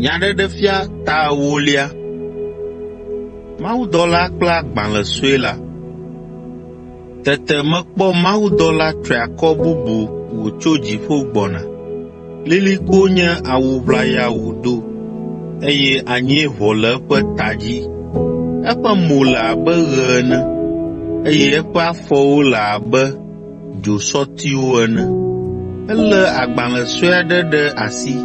Nyaɖeɖefia ta ewolia. Mawudɔla kple agbalẽ sue la. Tete mekpɔ mawudɔla triakɔ bubu wòtso dziƒo gbɔna. Lilikpo nye awu ʋlaya wòdo, eye anyi ʋɔ le eƒe ta dzi. Eƒe mo le abe ɣe ene, eye eƒe afɔwo le abe dzosɔtiwo ene. Elé agbalẽ sue aɖe ɖe asi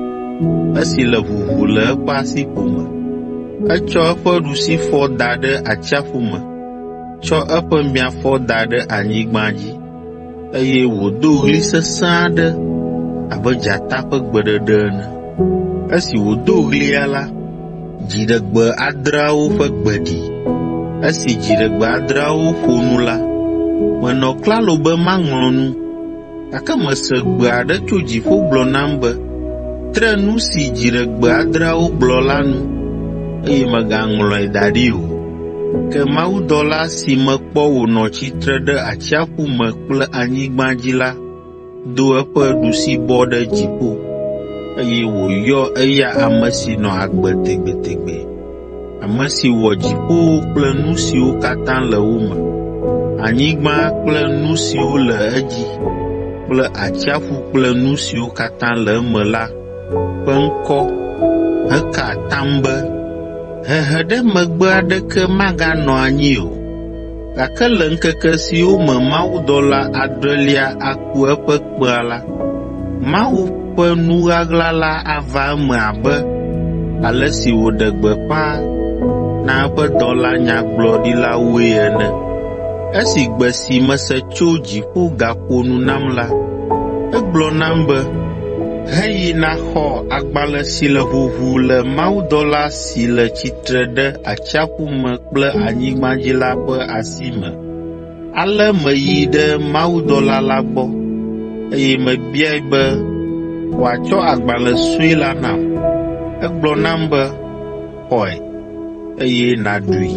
esi le ʋuʋu le eƒe asiƒo me. Etsɔ eƒe ɖusifɔ da ɖe atsiaƒu me, tsɔ eƒe miafɔ da ɖe anyigba dzi, eye wòdo ɣli sesẽ aɖe abe dzata ƒe gbeɖeɖe ene. Esi wòdo ɣlia la, Dziɖegbe adreawo ƒe gbe ɖi. Esi dziɖegbe adreawo ƒo nu la, menɔ klalo be maŋlɔ nu, gake mese gbe aɖe tso dziƒo gblɔ nam be, “Tre nu si dziɖegbe adreawo gblɔ la nu, eye mègaŋlɔe da ɖi o.” Ke mawudɔla si mekpɔ wònɔ tsitre ɖe atsiaƒu me kple anyigba dzi la do eƒe ɖusibɔ ɖe dziƒo, eye wòyɔ eya ame si nɔ agbe tegbetegbe, ame si wɔ dziƒowo kple nu siwo katã le wo me, anyigba kple nu siwo le edzi kple atsiaƒu kple nu siwo katã le eme la ƒe ŋkɔ heka atam be, “Hehe ɖe megbe aɖeke maganɔ anyi o!” Gake le ŋkeke siwo me mawudɔla adrelia aku eƒe kpẽa la, Mawu ƒe nu ɣaɣla la ava eme abe ale si wòɖe gbeƒã na eƒe dɔla nyagblɔɖilawoe ene. Esi gbe si mese tso dziƒo gaƒo nu nam la, egblɔ nam be, “Heyi nàxɔ agbalẽ si le ʋuʋu le mawudɔla si le tsitre ɖe atsiaƒu me kple anyigbadzila ƒe asi me. Ale meyi ɖe mawudɔla la gbɔ, eye mebiae be wòatsɔ agbalẽ sue la nam. Egblɔ nam be, “Xɔe, eye nàɖui.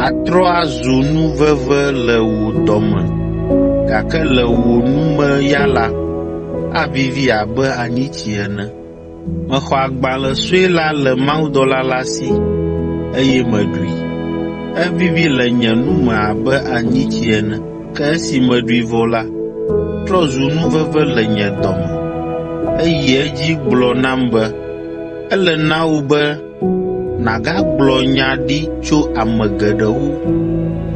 Atrɔ azu nu veve le wò dɔme, gake le wò nu me ya la, avivi abe anyitsi ene. Mexɔ agbalẽ sue la le mawudɔla la si, eye meɖui. Evivi le nye nu me abe anyitsi ene, ke esi meɖui vɔ la, etrɔ zu nu veve le nye dɔ me. Eyi edzi gblɔ nam be, “Ele na wò be nàgagblɔ nya ɖi tso ame geɖewo,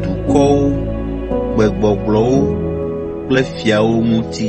dukɔwo, gbegbɔgblɔwo kple fiawo ŋuti.”